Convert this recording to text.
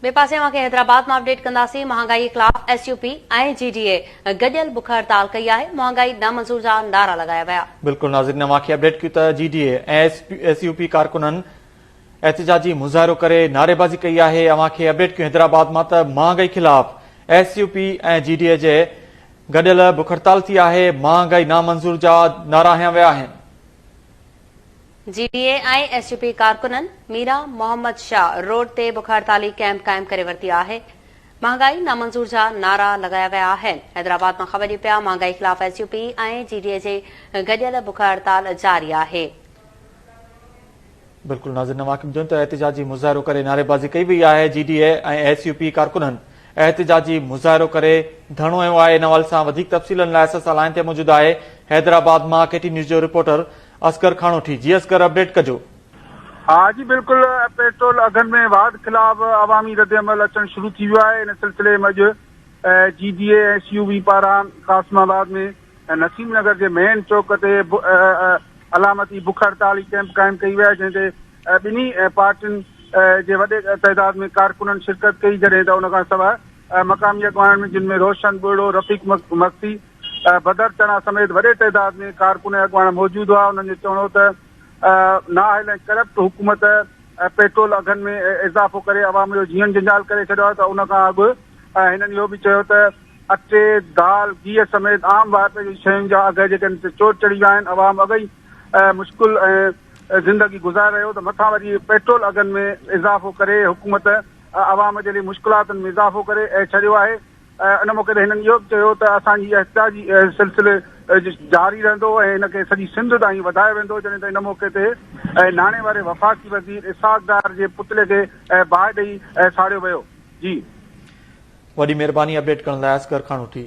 ٻئي پاسي اوهان کي حيدرآباد مان اپڊيٽ ڪنداسين، مهانگائي خلاف S U P ۽ J D A گڏيل بک هڙتال ڪئي آهي، مهانگائي نه منظور جا نعرا لڳايا ويا. بلڪل ناظرين اوهان کي اپڊيٽ ڪيون ته J D A ۽ S U P ڪارڪنن احتجاجي مظاهرو ڪري نعريبازي ڪئي آهي، اوهان کي اپڊيٽ ڪيون حيدرآباد مان ته مهانگائي خلاف S U P ۽ J D A جي گڏيل بک هڙتال ٿي آهي، مهانگائي نامنظور جا نعرا هنيا ويا آهن. J D A ۽ S U P ڪارڪنن ميران محمد شاهه روڊ تي بک هڙتالي ڪئمپ قائم ڪري ورتي آهي، مهانگائي نامنظور جا نعرا لڳايا ويا آهن، حيدرآباد مان خبر ڏي پيا مهانگائي خلاف S U P ۽ J D A جي گڏيل بک هڙتال جاري آهي. بلڪل ناظرين اوهان کي ٻڌايون ته احتجاجي مظاهرو ڪري نعريبازي ڪئي وئي آهي J D A ۽ S U P ڪارڪنن احتجاجي مظاهرو ڪري ڌرڻو هنيو آهي ان حوالي سان وڌيڪ تفصيلن لاء اسان سان لائين تي موجود آهي حيدرآباد مان ڪي ٽي نيوز جو رپورٽر اصغر کانوٺي جي اصغر اپڊيٽ ڪجو. ها جي بلڪل پيٽرول اگهن ۾ واڌ خلاف عوامي ردعمل اچڻ شروع ٿي ويو آهي ان سلسلي ۾ اڄ J D A S U V پاران قاسم آباد ۾ نسيم نگر جي مين چوڪ تي علامتي بک هڙتال ڪيمپ قائم ڪئي وئي جنهن تي ٻنهي پارٽين جي وڏي تعداد ۾ ڪارڪنن شرڪت ڪئي جڏهن ته ان کان سواء مقامي اڳواڻن ۾ جن ۾ روشن ٻوڙو رفيق مگسي بدر چنا سميت وڏي تعداد ۾ ڪارڪن ۽ اڳواڻ موجود هئا، انهن جو چوڻ هو ته نااهل ۽ ڪرپٽ حڪومت پيٽرول اگهن ۾ اضافو ڪري عوام جو جيئڻ جنجال ڪري ڇڏيو آهي ته ان کان اڳ هنن اهو به چيو ته اٽي، دال، گيهه سميت عام واهپي جي شين جا اگهه جيڪي آهن سي چوٽ چڙهي ويا آهن، عوام اڳ ئي مشڪل زندگي گذاري رهيو ته مٿان وري پيٽرول اگهن ۾ اضافو ڪري حڪومت عوام جي لئي مشڪلاتن ۾ اضافو ڪري ڇڏيو آهي، ان موقعي تي هنن اهو به چيو ته اسان جي احتجاج سلسلي جاري رهندو ۽ ان کي سڄي سنڌ تائين وڌايو ويندو جڏهن ته ان موقعي تي ناڻي واري وفاقي وزير اسحاق ڊار جي پتلي کي باهه ڏئي ساڙيو ويو جي وڏي مهرباني اپڊيٽ ڪرڻ لاء اصغر خان هٺي.